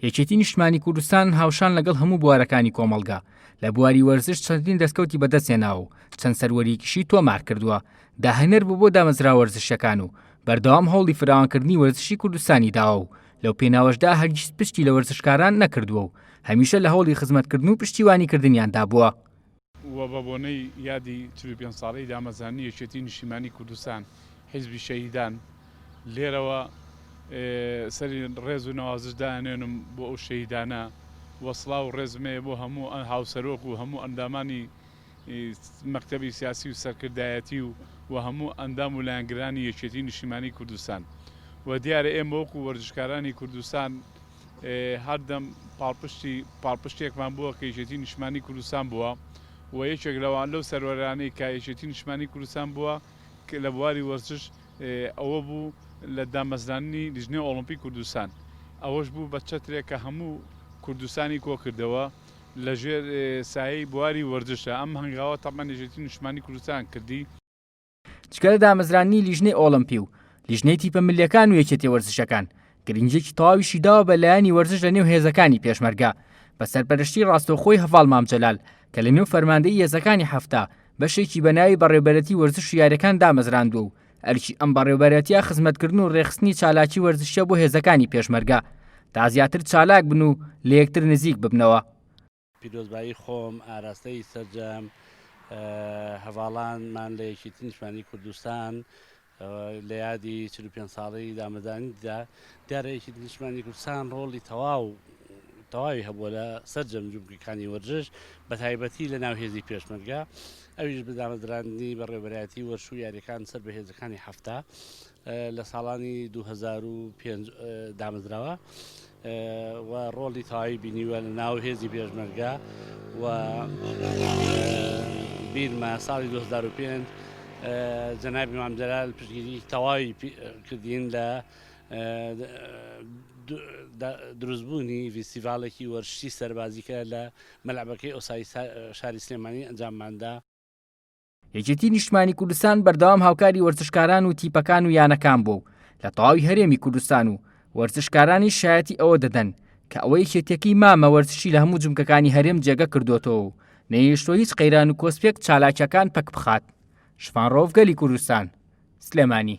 یەکێتی نیشتمانی کوردستان هاوشان لەگەڵ هەموو بوارەکانی کۆمەڵگا لە بواری وەرزش چەندین دەستکەوتی بەدەستهێناوە و چەند سەروەرییکیشی تۆمارکردووە، داهێنەر بووە بۆ دامەزراوە وەرزشییەکان و بەردەوام هەوڵی فراوانکردنی وەرزشی کوردستانی داوە و لەو پێناوەشدا هەرگیز پشتی لە وەرزشکاران نەکردووە و هەمیشە لە هەوڵی خزمەتکردن و پشتیوانیکردنیاندا بووە. و بە بۆنەی یادی چل و پێنج ساڵەی دامەزرانی یەکێتی نیشتیمانی کوردستان حیزبی شەهیدان لێرەوە سەری ڕێز و نەوازش دانێنم بۆ ئەو شەهیدانە و سڵاو و ڕێزم هەیە بۆ هەموو هاوسەرۆک و هەموو ئەندامانی مەکتەبی سیاسی و سەرکردایەتی و و هەموو ئەندام و لایەنگرانی یەکێتی نیشتیمانی کوردستان و دیارە ئێمە وەکو وەرزشکارانی کوردستان هەردەم پاڵپشتی پاڵپشتێکمان بووە کە یەکێتی نیشتمانی کوردستان بووە و یەکێک لەوان لەو سەروەرانەی کە یەکێتی نیشتمانی کوردستان بووە لە بواری وەرزش ئەوە بوو لە دامەزراننی لیژنەی ئۆڵۆمپی کوردستان ئەوەش بوو بە چەترێک کە هەموو کوردستانی کۆ کردەوە لە ژێر سایەی بواری وەرزشە ئەم هەنگاوە تەبعەن یەکێتی نیشتمانی کوردستان کردی. جگە لە دامەزراندنی لیژنەی ئۆڵەمپی و لیژنەی تیپە ملیەکان و یەکێتی وەرزشەکان گرنگیەکی تەواویشی داوە بە لایەنی وەرزش لە نێو هێزەکانی پێشمەرگە بە سەرپەرشتی ڕاستەوخۆی هەڤاڵ مام جەلال کە لە نێو فەرماندەی هێزەکانی حەفتا بەشێکی بە ناوی بەڕێوبەرەتی وەرزش و یاریەکان دامەزراندووە و ئەرکی ئەم بەڕێوبەرەتیە خزمەتکردن و ڕێخستنی چالاکی وەرزشیە بۆ هێزەکانی پێشمەرگە تا زیاتر چالاک بن و لە یەکتر نزیک ببنەوە. پیرۆزبایی خۆم ئاراستەی سەرجەم هەڤاڵانمان لە یەکێتی نیشتمانی کوردستان لە یادی چل و پێنج ساڵەی دامەزرانیدا دیارە یەکێتی نیشتمانی کوردستان ڕۆڵی تەواو تەواوی هەبووە لە سەرجەم جومگەکانی وەرزش بە تایبەتی لە ناو هێزی پێشمەرگە ئەویش بە دامەزراندنی بەڕێوەبەرایەتی وەرشوو یاریەکان سەر بە هێزەکانی هەفتا لە ساڵانی دوو هەزار و پێنج دامەزراوە و ڕۆڵی تەواوی بینیوە لە ناو هێزی پێشمەرگە و بیرمە ساڵی 2005 جەنابی مامجلال پشگیری تەواوی کردین لە دروستبوونی ڤیسیڤالێکی وەرشی سەربازیکە لە مەلعبەکەی ئۆسای شاری سلێمانی ئەنجامماندا یەکێتی نیشتمانی کوردستان بەردەوام هاوکاری وەرزشکاران و تیپەکان و یانەکان بووە و لە تەواوی هەرێمی کوردستان و وەرزشکارانی شایەتی ئەوە دەدەن کە ئەوە یەکێتیەکەی مامە وەرزشی لە هەموو جومکەکانی هەرێم جێگە کردۆتەوە و نەیهێشتوە هیچ قەیران و کۆسپێک چالاکیەکان پەک بخات شڤان رەوف گەلی کوردستان سلێمانی.